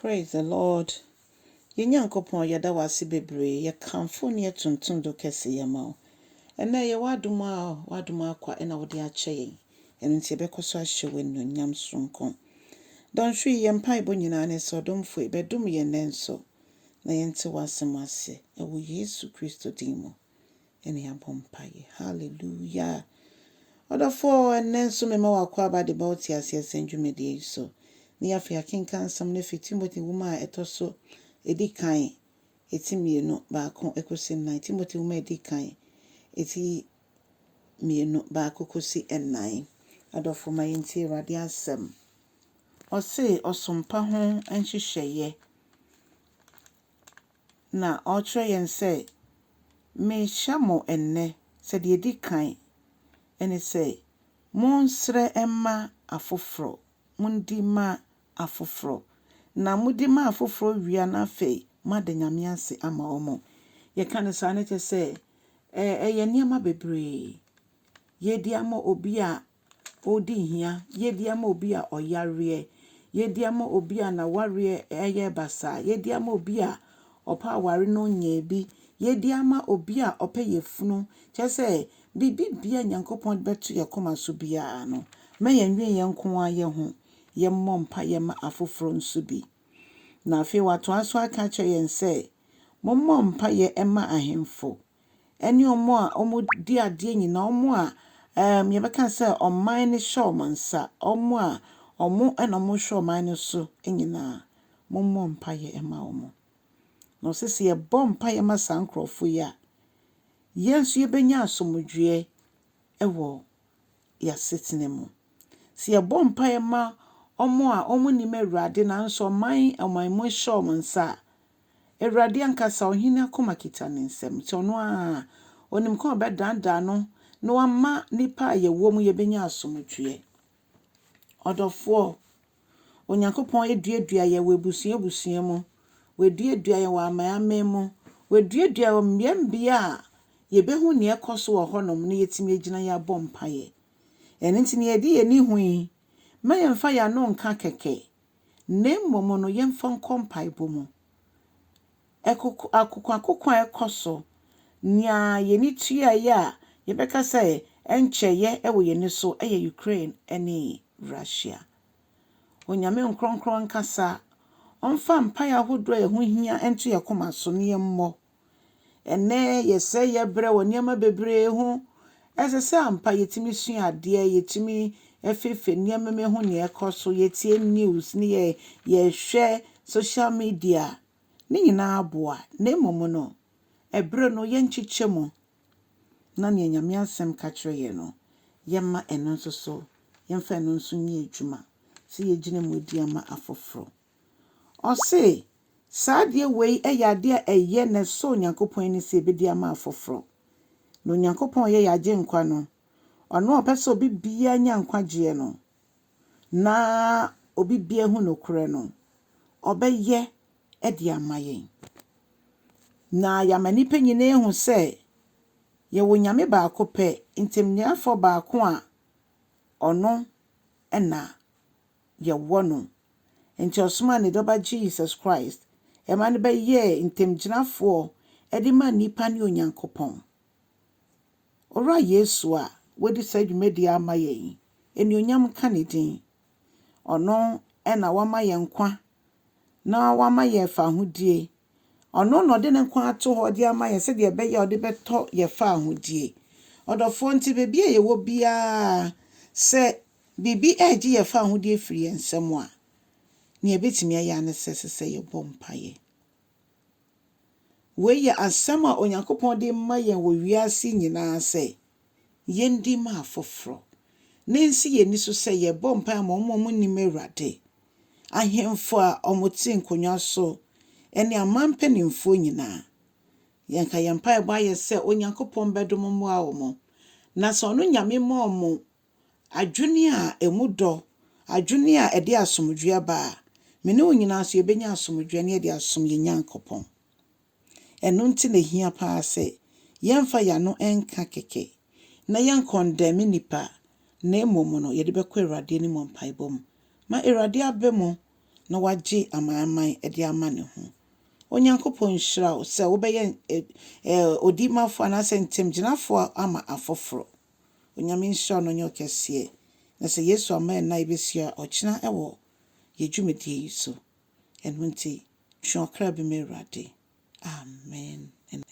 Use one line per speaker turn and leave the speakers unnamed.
Praise the Lord yɛn Nyankopɔn yɛda wo ase bebree yɛkamfo wo ne yɛtontom do kɛseyɛ ma wo ɛnɛ ɛyɛ w'adom a w'adom akwa ɛna wode akyɛ yɛn ɛno nti yɛbɛkɔ so ahyɛ wo anuonyam soronko Dɔnhwere yi yɛn mpaebɔ nyinaa ne sɛ ɔdomfo yi bɛdom yɛn nnɛ nso na yɛnte w'asɛm ase ɛwɔ Yesu Kristo din mu ɛne abɔ mpaeɛ. Hallelujah! Ɔdɔfoɔ, ɛnnɛ nso mema w'akwaaba de ba wo teaseɛ sɛn dwumadie yi so. Ne yɛ afei akenkan nsɛm no firi Timothy nwoma a ɛtɔ so ɛdi kan ɛti mmienu baako ɛkɔsi nnan. Timothy nwoma a ɛdi kan ɛti mmienu baako kɔsi nnan. Adɔfoɔ ma yɛntie Awurade asɛm. Ɔse ɔsompa ho nhyehyɛeɛ na ɔrekyerɛ yɛn sɛ, Merehyɛ mo nnɛ sɛ deɛ ɛdi kan ne sɛ, monsrɛ mma afoforɔ, mondi ma afoforɔ, na modi ma afoforɔ wie a na afei moada Nyame ase ama wɔn. Yɛka no saa no kyerɛ sɛ, ɛyɛ nneɛma bebree. Yɛredi ama obi a ɔredi hia, yɛdi ama obi a ɔyareɛ, yɛdi ama obi a n'awareɛ ɛyɛ basaa, yɛdi ama obi a ɔpɛ aware na ɔnyɛɛ bi, yɛdi ama obi a ɔpɛ yɛfunu, kyɛ sɛ biribi bia Nyankopɔn de bɛto yɛ koma so biara no, mɛ yɛn dwen yɛn nko ara yɛ ho, yɛ mmɔ mpa yɛ ma afoforɔ nso bi. Na afei watoa so aka akyerɛ yɛn sɛ, Mommɔ mpa yɛ mma ahemfo, ne wɔn a wɔdi adeɛ nyinaa, wɔn a ɛɛm deɛ yɛbɛka no sɛ ɔman no hyɛ wɔn nsa, wɔn a wɔn na wɔhwɛ ɔman no so nyinaa, mommɔ mpaeɛ mma wɔn. Na ɔse sɛ yɛbɔ mpaeɛ ma saa nkurɔfoɔ yi a, yɛn nso yɛbɛnya asomdwoeɛ wɔ yɛn asetena mu. Sɛ yɛbɔ mpaeɛ ma wɔn a wɔnim Awurade nanso ɔman ɔman mu hyɛ wɔn nsa a, Awurade ankasa, ɔhene akoma kita ne nsam, nti ɔno ara, ɔnim kwan a ɔbɛdaadaa no na wama nnipa a yɛwɔ mu yɛbɛnya asomdwoeɛ. Ɔdɔfoɔ, Onyankopɔn aduadua yɛn wɔ abusua abusua mu, waduadua yɛn wɔ aman aman mu, waduadua yɛn wɔ mmea mmea a yɛbɛhu nea ɛkɔ so wɔ hɔnom na yɛatumi agyina yɛabɔ mpaeɛ. Ɛno nti, nea yɛde yɛn ani hu yi, mma yɛmfa yɛn ano nka kɛkɛ, na mmom no yɛmfa nkɔ mpaebɔ mu. Ɛkoko, akokoakoko a ɛkɔ so, nea yɛn ani tua yɛ a yɛbɛka sɛ ɛnkyɛ yɛ wɔ yɛn ani so yɛ Ukraine ne Russia. Onyame nkorɔnkorɔn nkasa ɔmfa mpae ahodoɔ a ɛho hia nto yɛn koma so na yɛmmɔ. Ɛnnɛ, yɛsɛe yɛn berɛ wɔ nneɛma bebree ho. Ɛsɛ sɛ ampa yɛtumi sua adeɛ, yɛtumi feefee nneɛma mu hu nea ɛrekɔ so, yɛtie news ne yɛ yɛhwɛ social media. Ne nyinaa boa, na mmom no, ɛberɛ no yɛnkyekyɛ mu na nea Nyame asɛm ka kyerɛ yɛn no, yɛmma ɛno nso so, yɛmfa ɛno nso nyɛ adwuma sɛ yɛgyina mu di ama afoforɔ. Ɔse saa adeɛ wei yɛ adeɛ a ɛyɛ na ɛsɔ Onyankopɔn ani sɛ yɛbɛdi ama afoforɔ. Na Onyankopɔn a ɔyɛ yɛn Agyenkwa no, Ɔno a ɔpɛ sɛ obi biara nya nkwagyeɛ no, na obi biara ahu nokorɛ no, ɔbɛyɛ de ama yɛn. Na yɛama nnipa nyinaa ahu sɛ yɛwɔ Onyame baako pɛ, Ntamniafoɔ baako a ɔno na. yɛwɔ no. Enti ɔsomaa ne Dɔba Jesus Christ ma no bɛyɛɛ ntamgyinafoɔ de maa nnipa ne Onyankopɔn. Owura Yesu a wadi saa dwumadie ama yɛn yi, anuonyam nka ne din. Ɔno na wama yɛn nkwa na wama yɛn fahodie. Ɔno na ɔde ne nkwa ato hɔ de ama yɛn sɛdeɛ ɛbɛyɛ a ɔde bɛtɔ yɛn fahodie. Ɔdɔfoɔ nti baabi a yɛwɔ biara sɛ Biribi regye yɛn fawohodie afiri yɛn nsam a, nea yɛbɛtumi ayɛ ara ne sɛ ɛsɛ sɛ yɛbɔ mpaeɛ. Wei yɛ asɛm a Onyankopɔn de ma yɛn wɔ wiase nyinaa sɛ yɛndi ma afoforɔ, na ɛnsi yɛn ani so sɛ yɛbɔ mpaeɛ ma wɔn a wɔnnim Awurade, ahemfo a wɔte nkonnwa so ne aman mpanimfoɔ nyinaa. Yɛnka yɛn mpaebɔ ayɛ sɛ Onyankopɔn bɛdom mmoa wɔn, na sɛ ɔno Nyame ma wɔn Adwene a ɛmu dɔ, adwene a ɛde asomdwoeɛ ba a, me ne wo nyinaa nso yɛbɛnya asomdwoeɛ na yɛde asom yɛn Nyankopɔn. Ɛno nti na ɛhia pa ara sɛ yɛmfa yɛn ano nka kɛkɛ na yɛnkɔndɛme nnipa na mmom no yɛde bɛkɔ Awurade anim wɔ mpaebɔ mu ma Awurade aba mu na wagye amanaman de ama ne ho. Onyankopɔn nhyira wo sɛ wobɛyɛ odimafoɔ anaasɛ ntamgyinafoɔ ama afoforo. Onyame nhyira no ɔnyɛ ɔkɛseɛ na sɛ Yesu amma yɛn na yɛbɛsua ɔkyena wɔ yɛ dwumadie yi so ɛno nti twe ɔkra bi ma Awurade Amen.